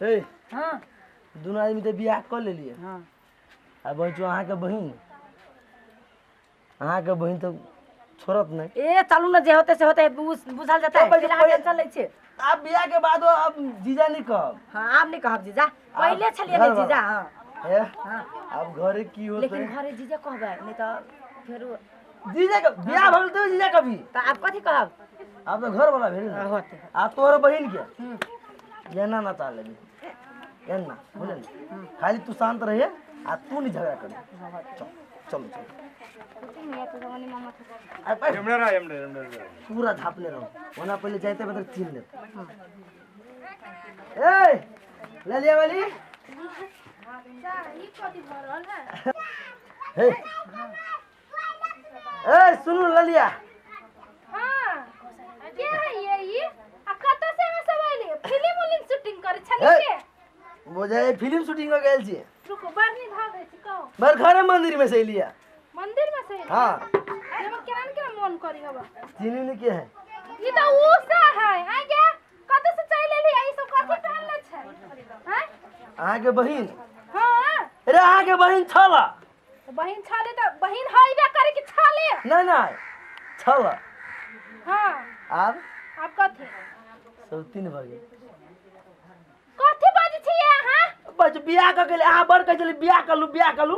हे हँ दुनू आदमी तऽ बियाह कऽ लेलियै हँ आ बचू अहाँके बहिन अहाँके बहिन तऽ छोड़त नहि ए चलू ने जे होते से होते बुझ- बुझल जेतै चल, बैठ, फिलहाल बैठ। टेंशन लै छियै आब बियाह के बाद अब जीजा नहि कहब हँ आब नहि कहब जीजा पहिले छलियै ने घर जीजा हँ हे हँ आब घरे की होतै लेकिन घरे जीजा कहबै नहि तऽ फेरो जीजा के बियाह भऽ गेल तैयो जीजा कभी तऽ आब कथी कहब आब तऽ घर वाला भेल ने होतै आ तोहर बहिन के हूँ एना ना चाह लेबी एना बुझल ने? खाली तू शान्त रहिए आ तू नहीं झगड़ा कर चल चल चल आ पैर पूरा झापने रहो ओना पहले जाते बदर चीन ले ए ले लिया वाली हे ए सुनू ले लिया बुझे फिल्म शूटिंग हो गेल छी बड़ घरे मंदिर में से लिया मंदिर में से हाँ एमे केना न केना मन करी हवा तीन दिन के है ई त ऊ सा है आइ के कत से चल एली ई सब कथी पहन ले छै हैं अहाँ के बहिन हां अरे अहाँ के बहिन छला बहिन छाले त बहिन हइबे करे कि छाले नहीं नहीं छला हां आब आब कथी सब तीन भऽ गेल कथी बाजै छियै अहाँ बस बियाह कऽ गेल अहाँ बड़ कहै छलियै बियाह कलू बियाह कलू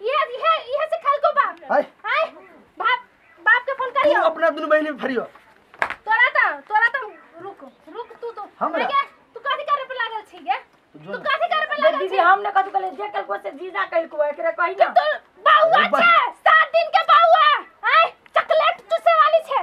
ये ये ये से खल को बाप हाय हाय बाप बाप के फोन तू करियो अपना दुनु बहिन में फरियो तोरा त तोरा त रुक रुक तू तो हमरा? आगे, तू कथी करे पे लागल छी गे जो तू ना। कथी करे पे जे लागल दीदी छी हम ने कथु कहले जे कल को से जीजा कल को एकरे कहि ना तू बाउआ अरे बा- छे सात दिन के बाउआ हाय चॉकलेट चूसे वाली छे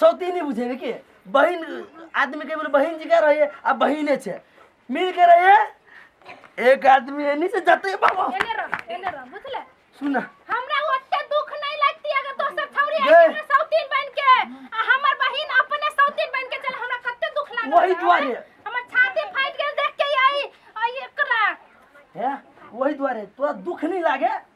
सौती नहीं बुझे कि बहन आदमी के बोले बहन जी का रही है आ बहने छे मिल के रही है एक आदमी है नहीं से जाते बाबा एने रह एने रह बुझले सुना हमरा ओते दुख नहीं लगती अगर दोसर छौरी गे। आके हमरा सौतीन बन के आ हमर बहिन अपने सौतीन बन के चल हमरा कते दुख लागल वही बा। दुआरे। हमर छाती फाट गेल देख के आई आई एकरा है वही द्वारे तोरा दुख नहीं लागे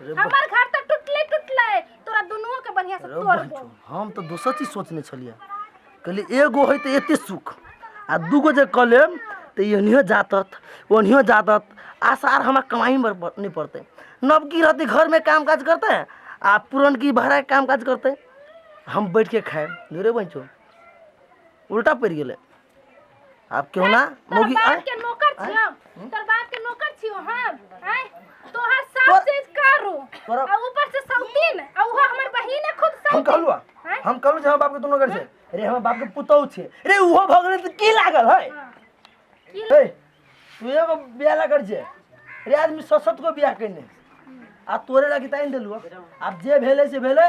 रे बा- हमर घर तऽ टूटले टूटले तोरा दुनुओ के बढ़िया से रे तोड़बो बाजू, हम तऽ दोसर चीज सोचने छलियै कहलियै एगो है तऽ एते सुख आ दूगो जे कऽ लेब तऽ ई एनियो जातत ओनियो जातत आसार हमरा कमाई में प- नहीं पड़ते नवकी रहती घर में काम काज करते आ पुरनकी भाड़ा के काम काज करते हम बैठ के खाएब धुरे बंचो उल्टा पड़ गेलै आब केहू ना तोहर मौगी बाप आँय? के नौकर छी हम तोहर बाप के नौकर छी हम हैं तोहर सास से करू तोरा- आ ऊपर से सौतीन आ उहो हमर बहिन है खुद हम सौतीन कहलू आ, हैं? हम कहलू जे हमर बाप के दुनू घर छै रे हमर बाप के पुतौह छै रे उहो भऽ गेलै तऽ की लागल है हाँ। की हे तू एगो बियाह ला कर छै रे आदमी सशक्त को बियाह कइने आ तोरे लागी तानि देलू आब जे भेलै से भेलै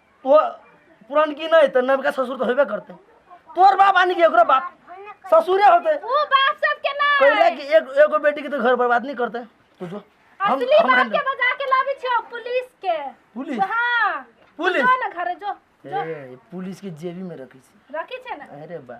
तो पुरान की नहीं तो नवका ससुर तो होबे करते तोर बाप आनी के ओकरा बाप ससुरे होते वो बाप सब के ना कहला कि एक एगो बेटी के तो घर बर्बाद नहीं करते तू जो हम असली हम बाप handle- के बजा के लाबी छो पुलिस के पुलिस? हां पुलिस? जो ना घरे जो ए पुलिस के जेबी में रखी छी रखी छे ना अरे बा